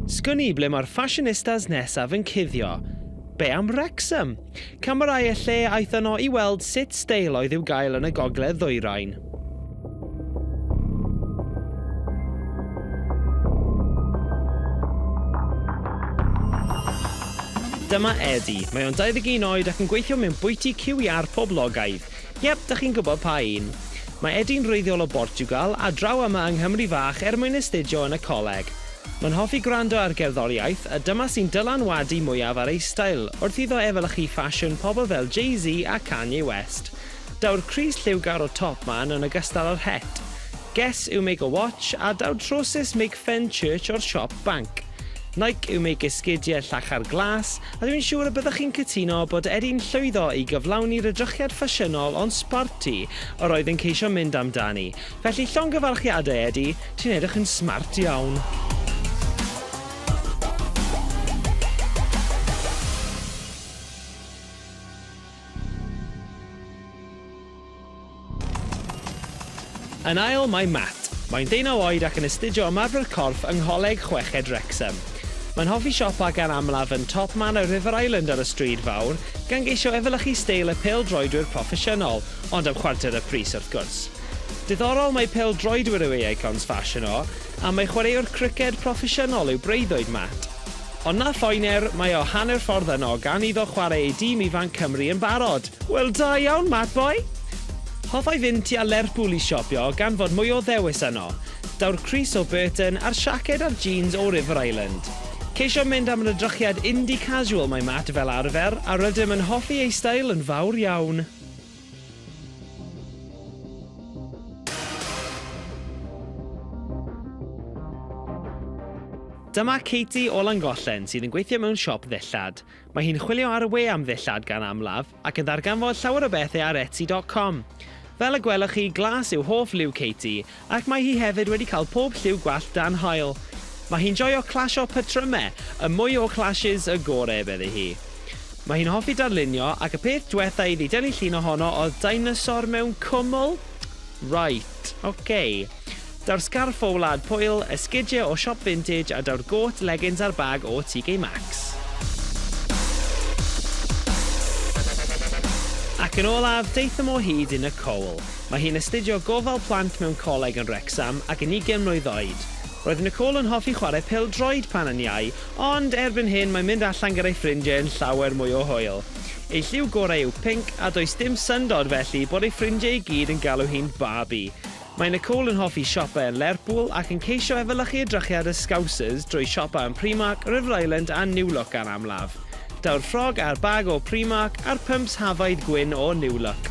Sgwn i ble mae'r ffashinistas nesaf yn cuddio. Be am Wrexham? Camerâu y lle aeth yno i weld sut steil oedd i'w gael yn y gogledd ddwyrain. Dyma Eddie. Mae o'n 21 oed ac yn gweithio mewn bwyty QER poblogaidd. Yep, dach chi'n gwybod pa un. Mae Edi'n wreiddiol o Bortiwgal a draw yma yng Nghymru fach er mwyn astudio yn y coleg. Mae'n hoffi gwrando ar gerddoriaeth a dyma sy'n dylanwadu mwyaf ar ei stael wrth iddo efelychu ffasiwn pobl fel Jay-Z a Kanye West. Daw'r crys lliwgar o Top Man yn ogystal â'r het. Guess who make a watch a daw'r trowsus make Fenchurch o'r siop banc. Nike yw meic esgidiau llachar glas, a dwi'n siŵr y byddwch chi'n cytuno bod Eddie'n llwyddo i gyflawni'r edrychiad ffasiynol ond sborti yr oedd yn ceisio mynd amdani, felly llongyfarchiadau Eddie, ti'n edrych yn smart iawn! Yn ail mae Matt. Mae'n deunaw oed ac yn astudio ymarfer corff yng Ngholeg Chweched Wrecsam. Mae'n hoffi siopa gan amlaf yn Top Man a River Island ar y Stryd Fawr, gan geisio efelychu steil y pêl-droedwyr proffesiynol, ond am chwarter y pris wrth gwrs. Diddorol mai pêl-droedwyr yw ei icons ffasiwn o, a mai chwaraewr criced proffesiynol yw breuddwyd Matt. Ond na phoener, mae o hanner ffordd yno, gan iddo chwarae ei dîm ifanc Cymru yn barod. Wel da iawn Matt Boy! Hoffai fynd tua Lerpwl i siopio gan fod mwy o ddewis yno. Daw'r crys o Burton a'r siaced a'r jeans o River Island. Ceisio mynd am yr edrychiad indie casual mae Matt fel arfer, a rydym yn hoffi ei stael yn fawr iawn. Dyma Katie o Langollen sydd yn gweithio mewn siop ddillad. Mae hi'n chwilio ar y we am ddillad gan amlaf ac yn ddarganfod llawer o bethau ar Etsy.com. Fel y gwelwch chi, glas yw hoff liw Katie Ac mae hi hefyd wedi cael pob lliw gwallt dan haul. Mae hi'n joio clasio patrymau, y mwy o clashes y gore, medde hi. Mae hi'n hoffi darlunio, ac y peth dwetha iddi dynnu llun ohono oedd deinosor mewn cwmwl! Right, ok. Daw'r sgarff o Wlad Pwyl, esgidiau o siop vintage a daw'r gôt legins a'r bag o TK Maxx. Ac yn olaf, daethom o hyd yn y cowl. Mae hi'n astudio Gofal Plant mewn coleg yn Wrecsam ac yn ugain mlwydd oed. Roedd Nicole yn hoffi chwarae pêl-droed pan yn iau, ond erbyn hyn mae'n mynd allan gyda'i ffrindiau yn llawer mwy o hwyl. Ei lliw gorau yw pinc, a does dim syndod felly bod ei ffrindiau i gyd yn galw hi'n Barbie. Mae Nicole yn hoffi siopa yn Lerpwl ac yn ceisio efelychu edrychiad y Scousers drwy siopa yn Primark, River Island a New Look gan amlaf. Daw'r ffrog a'r bag o Primark a'r pumps Havaid gwyn o New Look.